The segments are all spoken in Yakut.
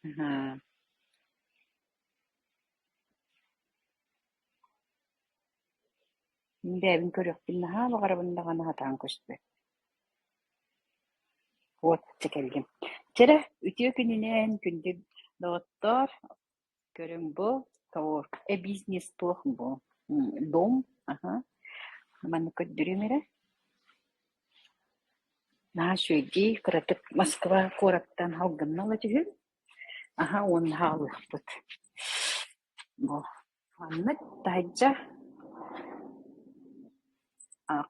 Аһа Мин бэйэбин көрүөхпүн наһаа баҕарабын даҕаны сатаан көспөт. Вот, дьэ кэлгим. Чэрэ, үтүө күнүнэн, күндү доҕоттоор. Көрүҥ бу, тоҕо эбиисинэс туох бу дом аха маннык көрдөрүөм эрэ наһаа үчүгэйдии кыратык Москва куораттан алгыннала түһүн аха уонна хаалыахпыт бу манна таһырдьа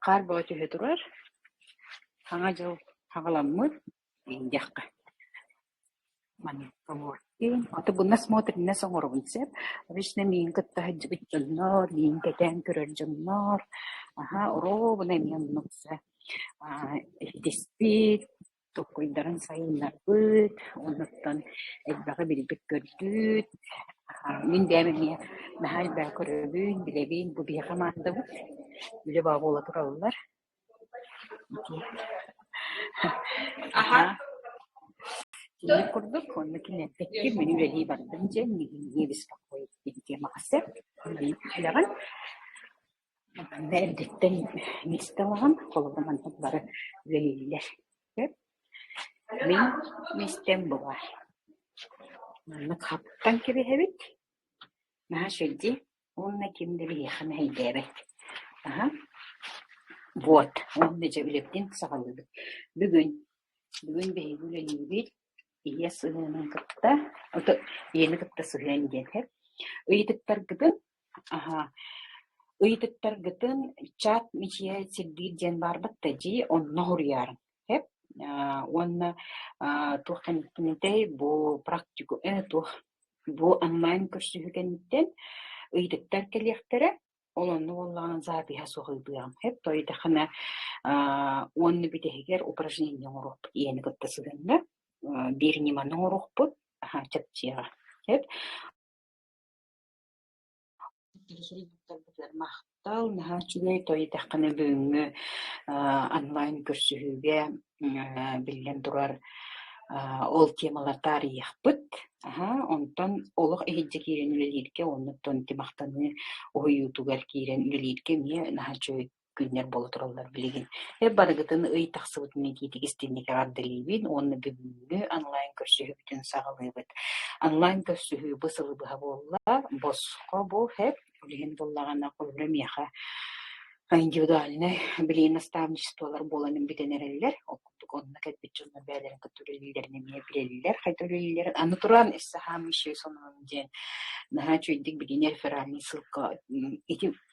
хаар бөҕө түһэ турар Саҥа дьыл хаҕаламмыт иһийдэххэ Маныкка буолар. Диэн аты гына смотринес оҥоробун сөп. Обычно миин кытта сылдьыбыт дьоннор, миин кэтээн көрөр дьоннор, аһа, оруобуна эмиэ оннук сөп. Аа, иһитиспит, токкуйдарын сайыннарбыт, оннуттан элбэҕи билбит-көрбүт. Аа, мин бэйэм эмиэ наһаа элбэҕи көрөбүн, билэбин, бу биһиэхэ маандабыт. Үлэ баба буола тураллар. Киһи курдук уонна киниэппэкки мин үлэлии бардым дьэ диэбискэх кое-киһи дьиэ махастар маньык түһэҕин эрдэттэн миэстэ ылаҕын холобур маннык бары үлэлииллэр мин миэстэм баар маннык хаптан кэбиһэбит наһаа сүрдүү Уонна ким да биһиэхэ мэһэйдээбэт. Аһа, вот, уонна дьэ үлэбитин саҕалыыбыт. Бүгүн, бүгүн биһиги үлэлиибит. Ийэ сыһыанын кытта, ото ийэни кытта сыһыан диэн иһэр. Ыйытыктаргытын, аһа, ыйытыктаргытын чат мичийэ сирдиир диэн баарбыт да дии, онно хоруйаарыҥ. Хэп, а, уонна а, туох кэнниттэн этэй, бу практику, э, туох Бу онлайн көрсүһүү кэнниттэн ыйытыктар кэлиэхтэрэ. Ол онно буоллаҕына запиһа суох ыйытыам. Эп тойдахына уонна бүтэһигэр упражнение оҥоруохпут ийэни кытта сыгынна. Биир ньыманы оҥоруохпут. Чэпчиэҕэ. Эп Махтал, наһаа үчүгэй, той дэххинэ бүгүҥҥү аа онлайн көрсүһүүгэ аа биллэн турар аа ол темаларга арыйыахпыт. Аһа, онтон олох иһирдьэ киирэн үлэлииргэ уонна оттон ити махтаныы уһуйуутугар киирэн үлэлииргэ эмиэ наһаа үчүгэй күннэр буола тураллар билигин. Эр барыгытын ый тахсыбытын иитиитик истинник эҕэрдэлиибин уонна бүгүҥҥү онлайн көрсүһүүбүтүн саҕалыыбыт. Онлайн көрсүһүү бу сылы быһа буолла, босхо бу хэп билигин буллаҕына хонно миэхэ индивидуальнай билии наставничестволар буолан бүтэн эрэллэр. Оккуппут онно кэлбит дьонно бэйэлэрин кытта үлэлииллэрин эмиэ билэллэр, хайда үлэлииллэрин. Аны туран исsaһаамыщай сонун диэн наһаа үчүгэйдик билиини реферальный ссылка ити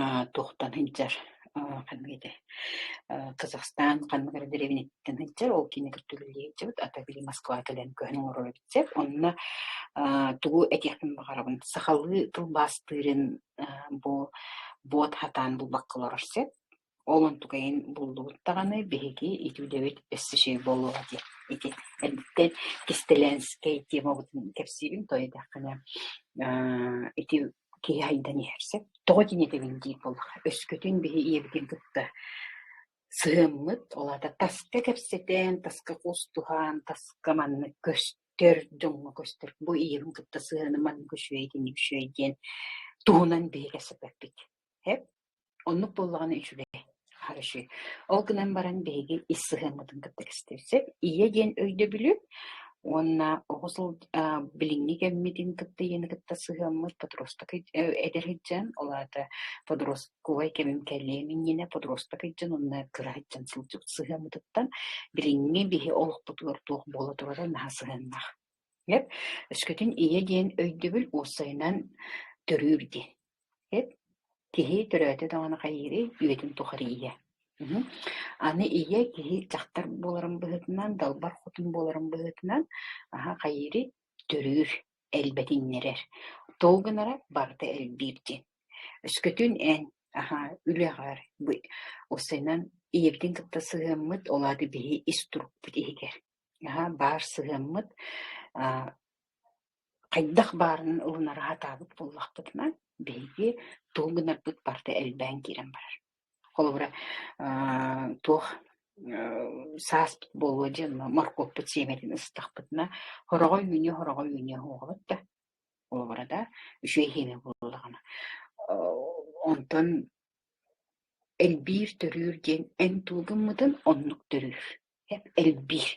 Аа, туохтан сылдьар, аа, ханнык этэй, аа, Казахстан ханныгыра дэриэбинэттэн сылдьар, ол кини кытта үлэлии сылдьыбыт, ата били Москваҕа кэлэн көһөн олороро эбит онно аа, тугу этиэхпин баҕарабын, сахалыы тылбаастыырын аа, бу буот хатаан булбакка олорор сеп Ол онтукайын буллубут даҕаны биһиги итүүлэбит өссө чэй буолуоҕа диэн ити эрдэттэн кистэлээнскэй темабытын кэпсиибин тоҕо диэтэххинэ аа, ити киһи айдан иһэр сөп тоҕо тиниэтэгин диир буоллаха өскөтүн биһи ийэбитин кытта сыһыммыт ол аата таска кэпсэтэн таска кустуһан таска маннык көстөр дьоҥҥо көстөр бу ийэбин кытта сыһыаным маннык үчүгэй итинник үчүгэй диэн туһунан биһиги кэпсэппиппит Оннук буоллаҕына үчүгэй. Хороший. Ол гынан баран биһиги ис сыһыаммытын кытта кэстиэхсэп. Ийэ диэн өйдөбүлү уонна оҕус ол а, билиҥҥи кэммитин кытта ийэни кытта сыһыаммыт подросток эдэр сылдьан, ол аата подростковай кэмим кэлиэм иннинэ подросток сылдьан уонна кыра сылдьан сылдьыбыт сыһыаммытыттан билиҥҥи биһи олохпутугар туох буола турара наһаа сыһыаннаах. Гэп өскөтүн ийэ диэн өйдөбүл уопсайынан төрүүр дии. Эт киһи төрөөтө даҕаны хайыырый, үйэтин тухары ийэ. Мм аны ийэ киһи дьахтар буоларын быһыытынан, далбар хотун буоларын быһыытынан аһа хайыырый төрүүр, элбэтиннэрэр. Ол гынара барыта элбиир диэн. Өскөтүн эн аһа үлэҕэр бы уссайынан ийэбитин кытта сыһыаммыт, ол аата биһи ис турукпут иһигэр. Аһа баар сыһыаммыт, аа хайдах баарынан ылынара сатаабыт буоллахпытына, биһиги туох гынарбыт барыта элбээн киирэн барар. Холобура, аа, туох э, сааспыт буолуо диэн моркуоппут сиэмэтин ыстахпытына, хороҕой үүнүө, хороҕой үүнүө суоҕабыт да. Холобура да, үчүгэй иһиэнэ буоллаҕына. Э, онтон элбиир, төрүүр диэн эн тугу гыммытын оннук төрүүр. элбиир.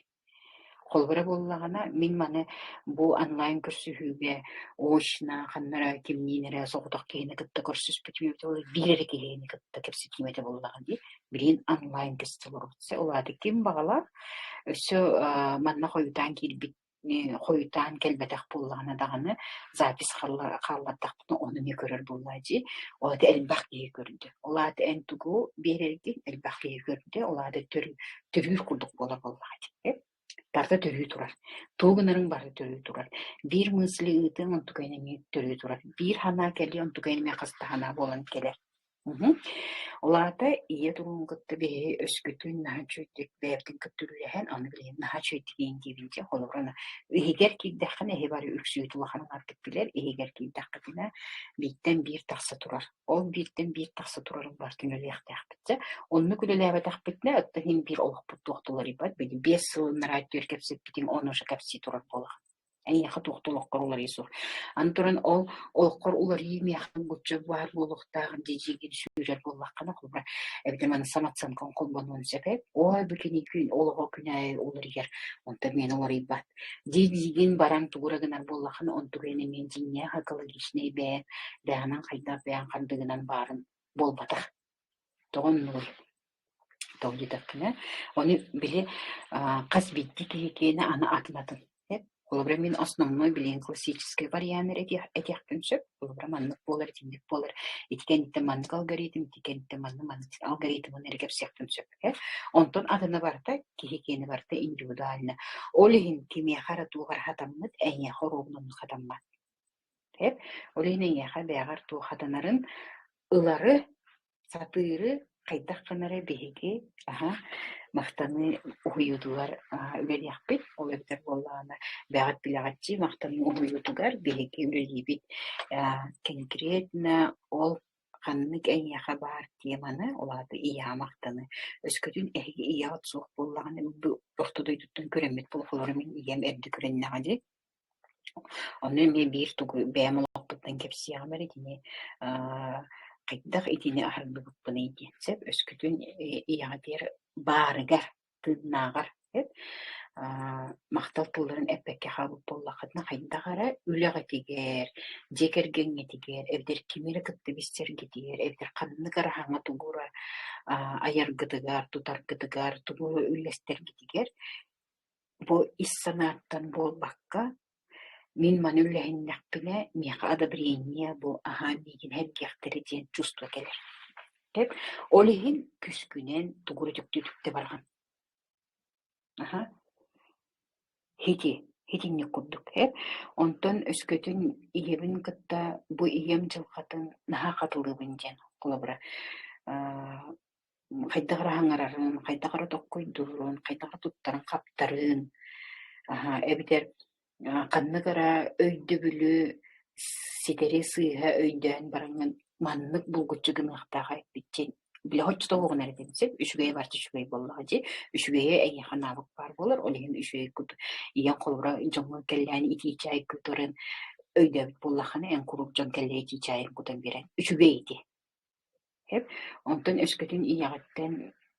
Холобура буоллаҕына, мин маны бу онлайн көрсүһүүгэ очно ханнара кимниин эрэ соҕотох киһини кытта көрсүспүтүм эбитэ биир эрэ киһини кытта кэпсэтиим этэ буоллаҕа дии. Билигин онлайн кэстэл операция улааты ким баҕалаах өссө манна хойутаан киирбит хойутаан кэлбэтэх буоллаҕына даҕаны запись хааллардахпытына ону эмиэ көрөр буоллаа дии. Ол аата элбэх киһи көрдө. Ол аата эн тугу биэрэргин элбэх киһи көрдө. Ол аата төрүүр курдук буола буоллаҕа дии. Тарта төрүү турар. Тугу гынарыҥ бары төрүү турар. Биир мысли ыытыаҥ онтукайын эмиэ төрүү турар. Биир санаа кэлиэ онтукайын эмиэ хас да санаа буолан кэлэр. Мгм. Ол аата ийэ туруун кытта биһиги өскөтүн наһаа үчүгэйдик бэйэбитин кытта үлэлэһэн, аны билигин наһаа үчүгэйдик иитиибит дии. Холобура, иһигэр киирдэххинэ иһи бары үксүөтүн улаханын атгыт билэр, иһигэр киирдэххитинэ бииртэн биир тахса турар. Ол бииртэн биир тахса турарын барытын үлэлиэхтээхпит. Дьэ, оннук үлэлээбэтэхпитинэ, оттон иһин биир олохпут туох да уларыйбат. Били биэс сыл нараа түөрт кэпсэппитиҥ, он уже кэпсии турар буолаҕын. эйиэхэ туох да олоххор уларыйа суох. Аны туран ол олоххор уларыы миэхэ гуччук баар буолуохтаах дии дии сүүрэр буоллаххына холбура эбэтэр маны самооценкаҥ холбонуон сөпө ой бу кини күн олоҕо күнэйи уларыйар онтон миэн уларыйбат дии диигин баран тугура гынар буоллаххына онтугу эмиэ дьиҥҥээх экологичнай бэйэ бэҕэнэн хайдах бэйэҥ хандыгынан баарын буолбатах тоҕо оннугуй тоҕо диэтэххинэ оны били хас биирдии киһикиэнэ аны атын атын холобура мин основной билигин классическай вариант эрэ этиэхпин сөп холобура маннык буолар итинник буолар ити кэнниттэн маннык алгоритм ити кэнниттэн манна маннык алгоритмын эрэ кэпсиэхпин сөп ээ онтон атына барыта киһикиэнэ барыта индивидуально ол иһин кимиэхэ эрэ туох эрэ хатаммыт эйиэхэ оруобун онно хатаммат Эп, ол иһин эйиэхэ бэйэҕэр туохатанарын ылары, сатыыры хайдах гынары биһиги аһа махтаныы уһуйуутугар аһа үлэлиэхпит. Ол эбэтэр буоллаҕына бэҕэт билэҕиччи махтаныы уһуйуутугар биһиги үлэлиибит. Э, конкретно ол ханнык эйиэхэ баар теманы, ол аата ийэҕэ махтаны. Өскөтүн эһиги ийэҕит суох буоллаҕына бу орто дойдуттан көрөммүт плохолору мин ийэм эрдэ көрөннөҕө дии. Ону эмиэ биир тугу бэйэм олохпуттан кэпсиэҕим эрэ итини аа хайдах итини аһардыбыппыный диэн. Сөп, өскөтүн ийэҕитигэр баарыгар, тыыннааҕар сөп аа махтал тылларын эппэккэ хаалбыт буоллаххытына хайдах эрэ үлэҕитигэр, дьиэ кэргэҥҥитигэр, эбэтэр кими эрэ кытта билсэргитигэр, эбэтэр ханнык эрэ аһаҥа тугура аа айаргытыгар, тутаргытыгар, тугу үллэстэргитигэр Бу ис санааттан буолбакка, мин маны үллэһиннэхпинэ миэхэ одобрение бу аһаан миигин эргиэхтэрэ диэн чувство кэлэр. Чек, ол иһин күскүнэн тугу эрэ түктүү-түктэ барҕан. Аха. Ити, итинник курдук эр. Онтон өскөтүн ийэбин кытта бу ийэм дьылҕатын наһаа хатылыыбын диэн холобура аа, хайдах эрэ хаҥарарын, хайдах эрэ токкойдуурун, хайдах эрэ туттарын-хаптарын, аһа эбэтэр ханнык эрэ өйдөбүлү ситэри сыыһа өйдөөн бараҥҥын маннык булгуччу гыныахтааҕа эппиччи били оччотооҕу гына эрэ дим сип үчүгэйэ баар үчүгэй буоллаҕа дии үчүгэйэ эйиэхэ наабык баар буолар ол иһин үчүгэй кут ийэҥ холобура дьоҥҥо кэллээн итии чай кутарын өйдөөбүт буоллаххына эн куруук дьон кэллэ итии чайын кутан биэрэн үчүгэй ити Онтон өскөтүн ийэҕиттэн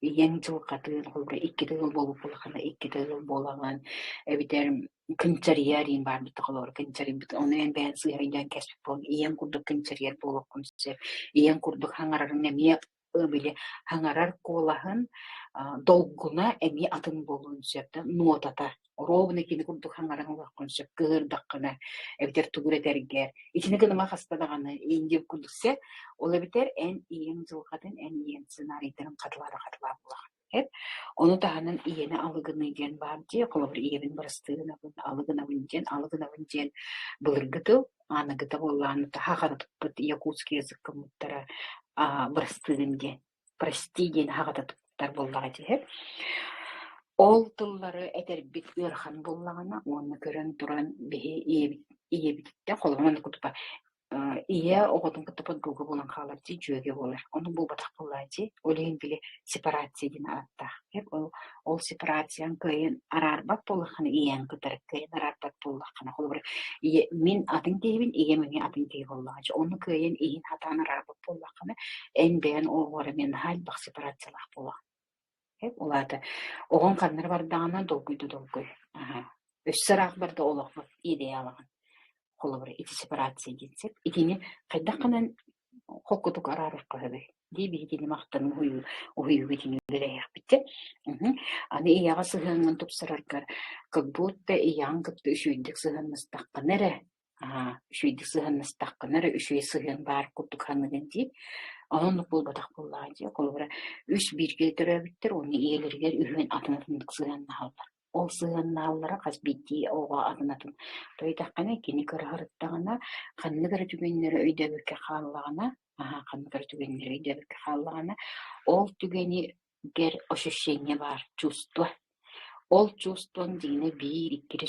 ийэҥ дьылҕатыын холобура икки тыгыл буолбут буоллаххына икки тыгыл буолаҕын эбэтэр кынчарыйар диэн баар бит холобура кынчарыйбыт ону эн бэйэҥ сыыһайдаан кэспит буолуҥ ийэҥ курдук кынчарыйар буолуоххун сөп ийэҥ курдук хаҥарарыҥ эмиэ били хаҥарар куолаһын долгуна эмиэ атын буолуон сөп да нотата оруобуна кини курдук хаҥаран ылыаххын сөп кыһырдаххына эбэтэр тугур этэргэр итини гыныма хаста даҕаны индиэ курдуксе ол эбэтэр эн ийэҥ дьылҕатын эн ийэҥ сценарийтарын хатылаата хатылаа буолаҕын эт ону таһынан ийэни алыгыныы диэн баар дии холобур ийэбин бырастыынабын алыгынабын диэн алыгынабын диэн былыргы тыл аныгыта буоллаан таһа ханытыппыт якутский язык гыммыттара бырастыын диэн прости диэн аһаҕата туттар буоллаҕа дии ол тыллары этэрбит ыарахан буоллаҕына уонна көрөн туран биһи ийэбит ийэбититтэн холобуран да кутупа ийэ оҕотун кытта подруга буолан хаалар дии дьүөгэ буолар ону булбатах буоллаа дии ол иһин били сепарация диэн ааттаах ол Ол сепарацияҥ кыайан араарбат буоллаххына, ийэҥ кытары кыайан араарбат буоллаххына, холобура, ийэ мин атын киһибин, ийэм эмиэ атын киһи буоллаҕа дии. Онно кыайан иһин хатаан араарбат буоллаххына, эн бэйэн оҕоҕор эмиэ наһаа элбэх сепарациялаах буолаҕын. Ол аата оҕоҥ ханна эрэ бардаҕына долгуйда долгуй. Аһа. Өссө ыраахпар да олохпут идеалаҕын холобура эти сепарация диэн сөп. Итини хайдах гынан холкутук араарар хаһыгый дии биһигини махтаныы уһуйуу уһуйууга итини үлэлэһиэхпитэ. Мгм. Аны ийэҕэ сыһыаҥҥын тупсараргар как будто ийэҕин кытта үчүгэйдик сыһыаннастаххына эрэ аа үчүгэйдик сыһыаннастаххына эрэ үчүгэй сыһыан баар курдук саныгын дии. Онуннук буолбатах буоллаҕа дии. Холобура үс бииргэ төрөөбүттэр уонна ийэлэригэр үһүөн атын ытыннык сыһыаннаһаллар. Ол сыһыаннааллара хас биирдии оҕо аҕынатын. Тойутаххына кини кыраһырыттаҕына, ханнык эрэ түгэннэри өйдөөбөккө хааллаҕына, аһа, ханнык эрэ түгэннэри өйдөөбөккө хааллаҕына, ол түгэни гэр ощущение баар, чувство. Ол чувствоҥ дьиҥинэ биир, икки эрэ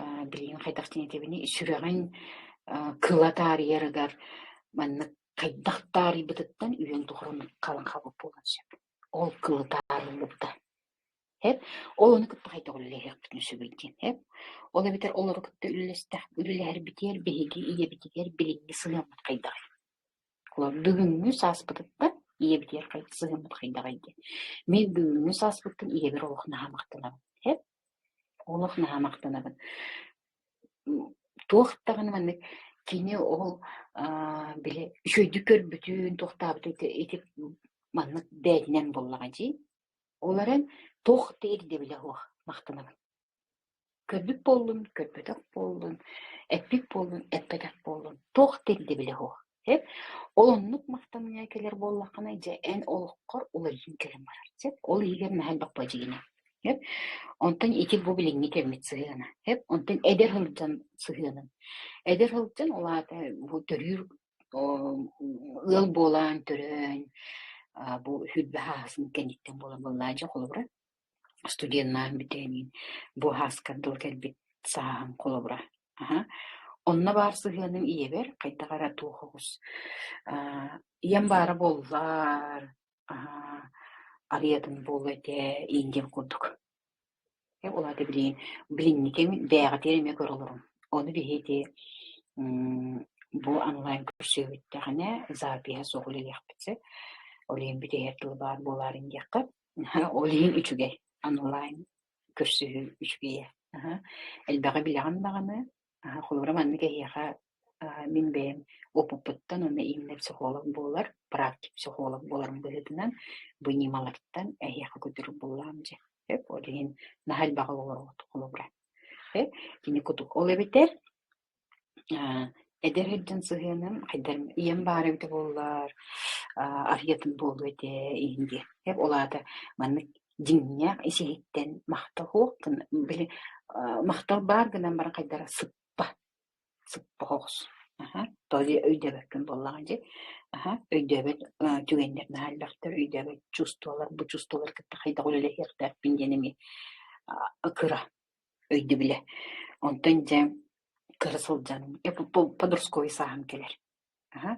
Аа, билигин хайдах диэтэбиний, сүрэҕин э, кыла таарыйарыгар маннык хайдах таарыйбытыттан үйэҥ тухары оннук халыҥ хабык буолан сөп. Ол кылы таарыллыбыта. Хэп? Ол ону кытта хайдах үлэлэһиэхпитин сөбүй диэн хэп? Ол эбэтэр олору кытта үлэлэстэх үлэлэһэрбитигэр биһиги ийэбитигэр билиҥҥи сыһыаммыт хайдаҕый? Олор бүгүҥҥү сааспытыттан ийэбитигэр сыһыаммыт хайдаҕый диэн. Мин бүгүҥҥү сааспыттан ийэбэр олох наһаа махтанабын. Хэп? Олох наһаа махтанабын. Туох даҕаны маннык кини ол аа били үчүгэйдик көрбүтүн, туохтаабытын ити ити маннык бэйэтинэн буоллаҕа дии. Ол эрэн туох да ирдэбилэ суох махтанабын. Көрбүт буоллун, көрбөтөх буоллун, эппит буоллун, эппэтэх буоллун, туох да ирдэбилэ суох. Ол оннук махтаныа кэлэр буоллаххына, дьэ, эн олоххор уларыйан кэлэн барар. Сөп? Ол иһигэр наһаа элбэх дьиҥинэ. Сөп? Онтон ити бу билиҥҥи кэммит сыһыана. Сөп? Онтон эдэр сылдьан сыһыанын. Эдэр сылдьан, ол аата бу төрүүр ыал буолаан, төрөөн, бу сүрбэ хаасын кэнниттэн буолан буоллааччы холобура. студеннаах бүтээнин буоһааскар дылы кэлбит сааһым холобура аха онно баар сыһыаным ийэбэр хайдах эрэ туох оҕус аа ийэм баара буоллар аха арыйатын буолуо этэ иин диэн курдук э ол аата билигин билиҥҥитин бэйэҕитигэр эмиэ көрө олоруҥ ону биһиги мм бу онлайн көрсүһүбүттэхинэ запиһа суох үлэлиэхпит сэ ол иһин бүтэһэр тылы баар буолаарын диэххэ Ол иһин үчүгэй онлайн көрсүһүү үчүгэйэ. Элбэҕи билэҕин даҕаны, холобура маннык эһиэхэ мин бэйэм опыппыттан уонна иҥнэр психолог буолар, практик психолог буоларым быһыытынан бу ньымалартан эһиэхэ көтүрүк буллаҕым дии. Ол иһин наһаа элбэҕи олороҕут холобура. Кини кутук ол эбэтэр Эдэр дьон сыһыаным хайдах ийэм баара эбитэ буоллар аа арыйатын буолуо этэ иһин диэххэ ол аата маннык дьиҥнээх исиһиттэн махталуох гына били аа махтал баар гынан баран хайдара сыппа сыппа оҕус аха то ли өйдөөбөккүн буоллаҕа дии аха өйдөөбөт аа түгэннэр наһаа элбэхтэр өйдөөбөт чувстволар бу чувстволары кытта хайдах үлэлэһиэхтээхпин диэн эмиэ а кыра өйдөбүлэ. Онтон дьэ кыра сылдьан подростковай сааһым кэлэр. Аха.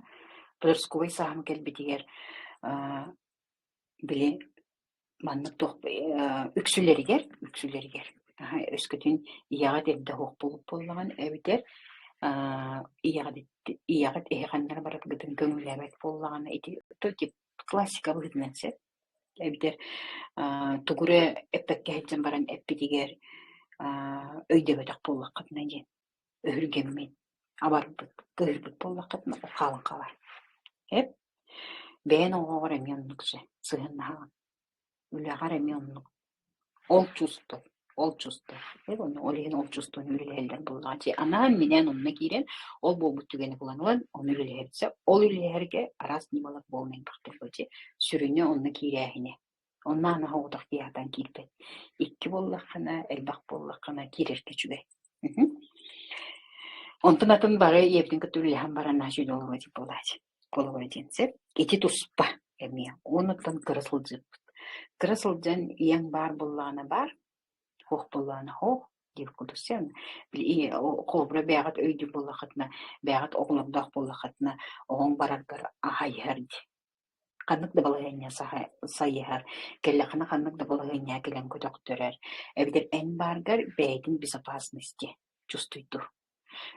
Подростковай сааһым кэлбитигэр били маннык туох үксүлэригэр үксүлэригэр аха өскөтүн ийэҕит эрдэ оһох булут буоллаҕын эбэтэр ийэҕит ийэҕит эһи ханнара бараргытын көҥүллээбэт буоллаҕына ити классика быһыытынан сөп Эбэтэр аа тугу эрэ эппэккэ иһитсэн баран эппитигэр аа өйдөбөтөх буоллаххытына диэн өһүргэммин абарбыт, кыыһырбыт буоллаххытына хаалан хаалар. Эп бэйэн оҕоҕор эмиэ оннук сыһыаннаһаҕын. Үлэҕэр эмиэ оннук. Олдчусто, олдчусто, ол иһин олдчустон үлэлэһэллэр буоллаҕа дии. Анаан минээн онно киирэн, ол буолбут түгэни булан ылан, онно үлэлэһэрсэ. Ол үлэлэһэргэ араас ньымалар буолан элбэхтэр дии. Сүрүнэ онно киирээһинэ. Онно аны соҕотох тыаһатан киирбэт. Икки буоллаххына, элбэх буоллаххына киирэргэ үчүгэй. Онтон атын бары ийэбитин кытта үлэлэһэн баран сөйтө олоро дии буолааччы. холобура диэн сөп ити туспа эмиэ уонуттан кыра сылдьыппыт кыра сылдьан ийэҥ баар буоллаҕына баар суох буоллаҕына оһ диир курдук сен холобура бэйэҕит өйдүүр буоллаххытына бэйэҕит оҕолордоох буоллаххытына оҕоҥ бараргар аһайыһар дии ханнык да балаһыанньа сайыһар кэллэххинэ ханнык да балаһыанньа кэлэн көтөхтөрөр эбэтэр эн бааргар бэйэтин безопасность диэ чувствуй дур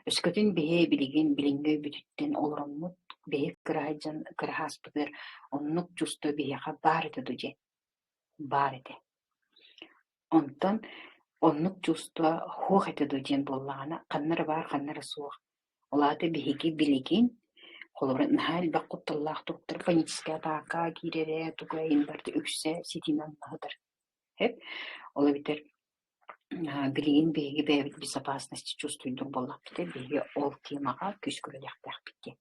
Өскөтүн биһи билигин билиҥҥи өйбүтүттэн олороммут биһи кыраһай дьон кыраһааспытыгар оннук чувство биһиэхэ баар этэ дуу дьэ, баар этэ. Онтон оннук чувство суох этэ дуу диэн буоллаҕына, ханна эрэ баар, ханна эрэ суох. Ол аата биһиги билигин, холобура, наһаа элбэх кутталлаах туруктар паническай атака киирэрэ, тугу айан барыта үксэ ситиинэн умнаһытар. Эп? Ол эбэтэр Билигин биһиги бэйэбит безопасности чувствуйдук буоллахпытына, биһиги ол тиэмэҕэ күүскэ үлэлиэхтээхпит диэн.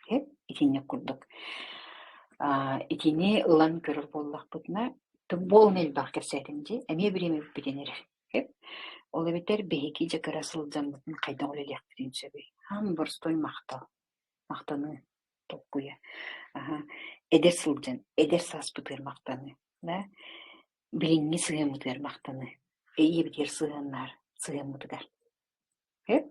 Сөп, итинник курдук. Итини ылан көрөр буоллахпытына, тым буолуна элбэх кэпсээтим дии, эмиэ бириэмэбитин эрэр. Сөп. Ол эбэтэр биһиги дьэ кыра сылдьаммытын хайдах үлэлиэхпитин сөбүй? Хаан боростуой махтал. Махтаныы толкуйа. Эдэр сылдьан, эдэр сааспытыгар махтаныы. Да? билиҥҥи сыһыаммытыгар махтаныы, ийэбитигэр сыһыаннаар сыһыаммытыгар. Эт?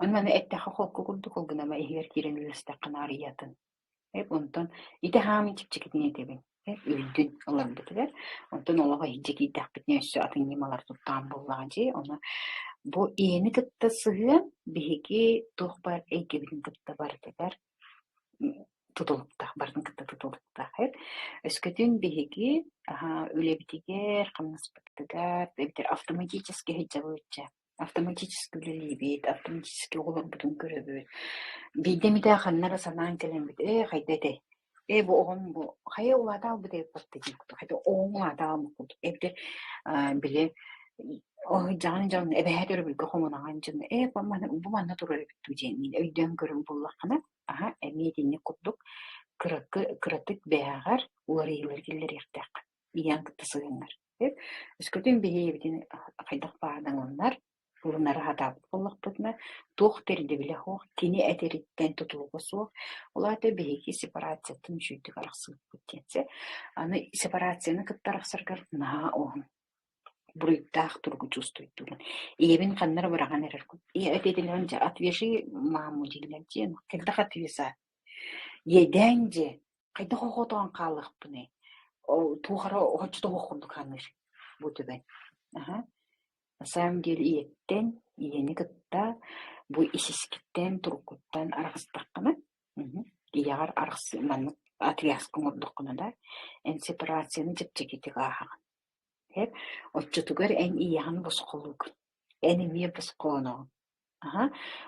Аны маны эттэххэ холку курдук ол гынан ама иһигэр киирэн үлэлэстэххэ наарыйатын. Эт онтон ити хаамын чипчикитин этэбин. Эт үрдүн ыларбытыгар онтон олох иһдьэ киирдэхпитинэ өссө атын ньымалар туттаан буоллаҕа дии. Ону бу ийэни кытта сыһыан биһиги туох баар эйгэбитин кытта барытыгар тутулуктаах барын кытта тутулуктаахайыт өскөтүн биһиги үлэбитигэр хамнаспытыгар эбэтэр автоматически сылдьабыт автоматически үлэлиибит автоматически оҕолорбутун көрөбүт биирдэ эмитэ ханна эрэ санаан кэлэммит ээ хайда этэй Ээ бу оҕом бу хайа улаата аалбытай эппэккэ диэккэ хата оҕоҥ улаата аалмык курдук эбдэр били дьаан дьон эбэһэ төрөбүлгэ хомунаҕан дьон ээ бу манна турар эбит дуу диэн мин өйдөөн көрөн буллаххына аха эмиэ итинник курдук кыракы кыратык бэйэҕэр уларыйыылар киллэриэхтээх ийаҥ кытта сыһыҥар өскөтүн биһиэбитин хайдах баадаҥаннар Фурунары сатаабыт буоллахпытына, туох да ирдэбилэ суох, кини этэриттэн тутулуга суох, ол аата биһиги сепарациятын үчүгэйдик арахсыбыппыт диэн. Чэ, аны сепарацияны кытта арахсаргар наһаа уһун буруйдаах туругу чувствуйдулун. Ийэбин ханна эрэ быраҕан эрэр ийэ ответынан дьэ отвяжи маму дииллэр дьиэн кэлдэх отвяза иэдээн дьэ хайдах охотоон хаалыахпыный ол туох эрэ оччото курдук саныыр бу түбэн аха На самом деле ийэттэн, ийэни кытта бу исискиттэн, туруккуттан арахыстаххына, мм ийэҕэр арахсы маннык отвязка оҥордоххуна да эн сепарацияны чэпчэкитик ааһаҕын. Эп оччотугар эн ийэҕин босхолуугун. Эн эмиэ босхооноҕун. Аһа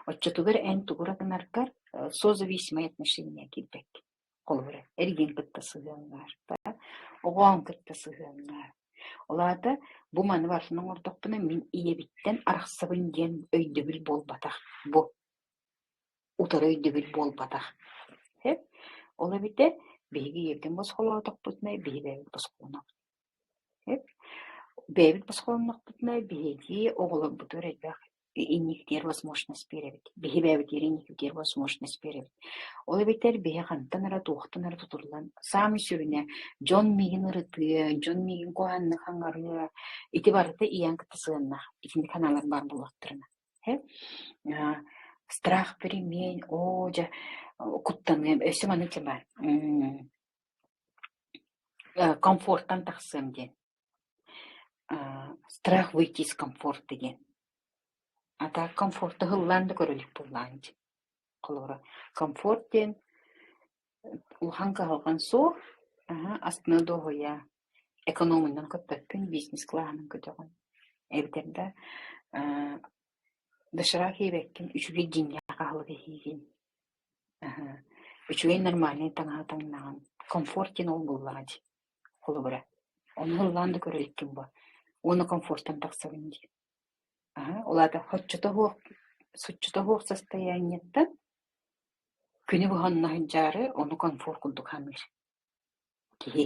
оччотугар эн тугура гынаргар э созависимое отношение киирбэккин. Холобура, эргиэн кытта сыһыаннаахтара, оҕоон кытта сыһыаннаах. Ол аата бу маны барытын оҥордохпуна мин ийэбиттэн арахсабын диэн өйдөбүл буолбатах. Бу утары өйдөбүл буолбатах. Ол эбитэ биһиги ийэбитин босхолоотохпутуна биһи бэйэбит босхолонобут. Бэйэбит босхолоннохпутуна биһиги оҕолорбутугар элбэх инникитигэр возможность биэрэбит. Биһи бэйэбитигэр инникитигэр возможность биэрэбит. Ол эбэтэр биһи хантан эрэ туохтан эрэ тутуллан саамай сүрүнэ дьон миигин ырытыа, дьон миигин куһааннык хаҥарыа, ити барыта ийэм кытта сыһыаннаах итинник санаалар баар буолуохтарына. Страх, перемен, оо дьэ куттаныам, өссө маны чэ баар комфортан тахсыам диэн страх выйти из комфорта диэн а так комфорта ыһыллаан да көрөлүк буоллаҕа ини холобура комфорт диэн улахан кыһалҕан суох астына дуоһуйа экономунан көппөппүн бизнес кылааһынан көтөҕөн эбэтэр да доширак иэбэккин үчүгэй дьиҥҥээх аһылык иһиигин Үчүгэй нормальнай таҥаһа таҥнаҕын, комфорт диэн ол буллаҕа дии, холобура. Ону ыллаан да көрөр эккин буо, уонна комфортан тахсабын дии. Аһа, ол аата соччото суох, соччото суох состояниеттан күнү быһа онно сылдьаары, ону комфорт курдук саныыр Киһи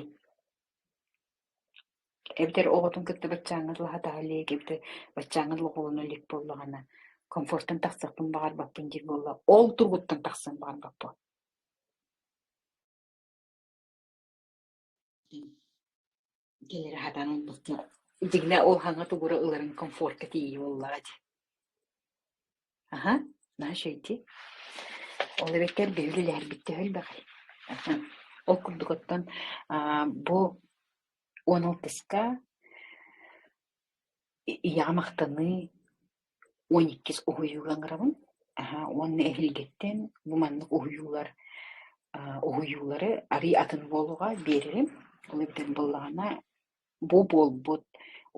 эбэтэр оҕотун кытта баччааҥҥа ылаһатаҕа илии эбэтэр баччааҥҥа лоҕулана илик буоллаҕына комфортан тахсыахпын баҕарбаппын диир буолла ол тургуттан тахсыан баҕарбаппын Кэлэри хатан ылбыккын. Дьиҥнэ ол хаҥа тугура ыларын комфортка тиийии буоллаҕа дии. Аха, наһаа эчэйдии. Ол эбэтэр биһи үлэлэһэрбит төһө элбэҕий? Аха. Ол курдук оттон аа, бу он алтыска ийэҕэ махтаныы, он иккис уһуйууга ыҥырабын. Аһаа, уонна эһиилгиттэн бу маннык уһуйуулар аа уһуйуулары арыый атын буолуоҕа биэрэрим. Ол ирдэн буоллаҕына бу буолбут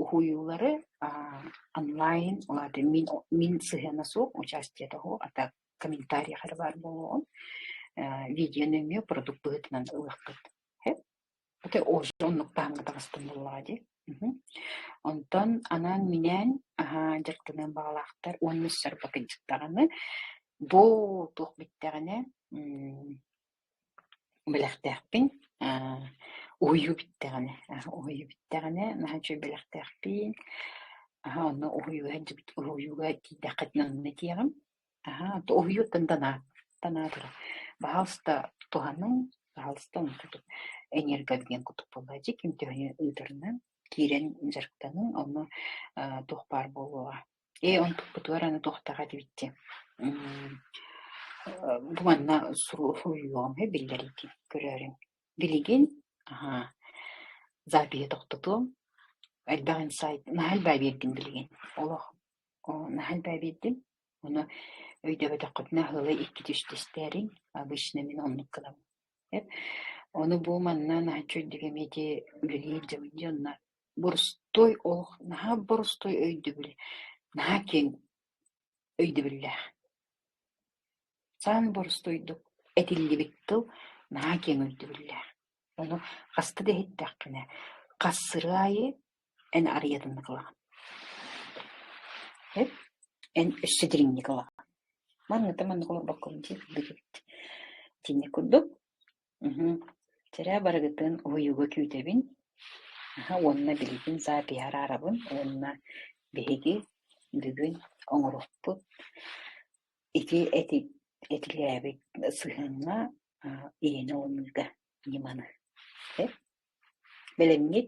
уһуйуулары аа онлайн, ол аата мин мин сыһыана суох участие того, а так комментарийх эрэ баар буолуоҕун. Э видео нөҥүө продукт быһыытынан ылыаххыт. Ити ужас оннук таһымҥа таҕыстым буоллаҕа дии. Мгм. Онтон анаан-минээн, аһаа, дьарыктаныан баҕалаахтар уонна сарбатынчык даҕаны. Бу туох бүттэҕинэ, м, бэлэхтээхпин. Аа, уһуйуу бүттэҕинэ, аһ, уһуйуу бүттэҕинэ наһаа үчүгэй бэлэхтээхпин. Аһа, онно уһуйууга, уһуйууга тиийдэххитинэ онно этиэҕим. Аһаа, уһуйуот да танаа, танаа турар. Баһаалыста туһаныҥ, баһаалыста онтутук энергообмен курдук буолла. Дьэ, ким төһөнү ыытарынан киирэн дьарыктаныҥ, онно э, туох баар буолуоҕа. Ээ, онтукпутугар аны туохтаах этибиттии. Бу манна суруйуоҕум биллэриитин көрөөрүҥ. Билигин аһаа, запиһы тохтотуом. Элбэх инсайт наһаа элбээн биэрдим билигин. Олох наһаа элбээн биэрдим. Ону өйдөбөтөххүтүнэ аһыылай икки түстүстээриҥ, обычно мин оннук гынабын. Эп ону бу манна наһаччы үрдүк эмиэти үлэлиир дьыбын дьоннор борустуой олох наһаа борустуой өйдөбүл, наһаа киэҥ өйдөбүллээх. Саан борустуойдук этиллибит тыл наһаа киэҥ өйдөбүллээх. Ону хаста да иһиттэххинэ, хасыры аайы эн арыйатын кылаҕын эт эн өссө дириҥник ылаҕын манныта маннык олорбоккун диир бигит итинник курдук мхм сэрээ барыгытын уһуйууга күүтэбин аха уонна билигин саапиһа араарабын уонна биһиги бүгүн оҥоруохпут ити этилээбит сыһыаҥҥа иһини ылыныыга Ньыманы Бэлэмҥит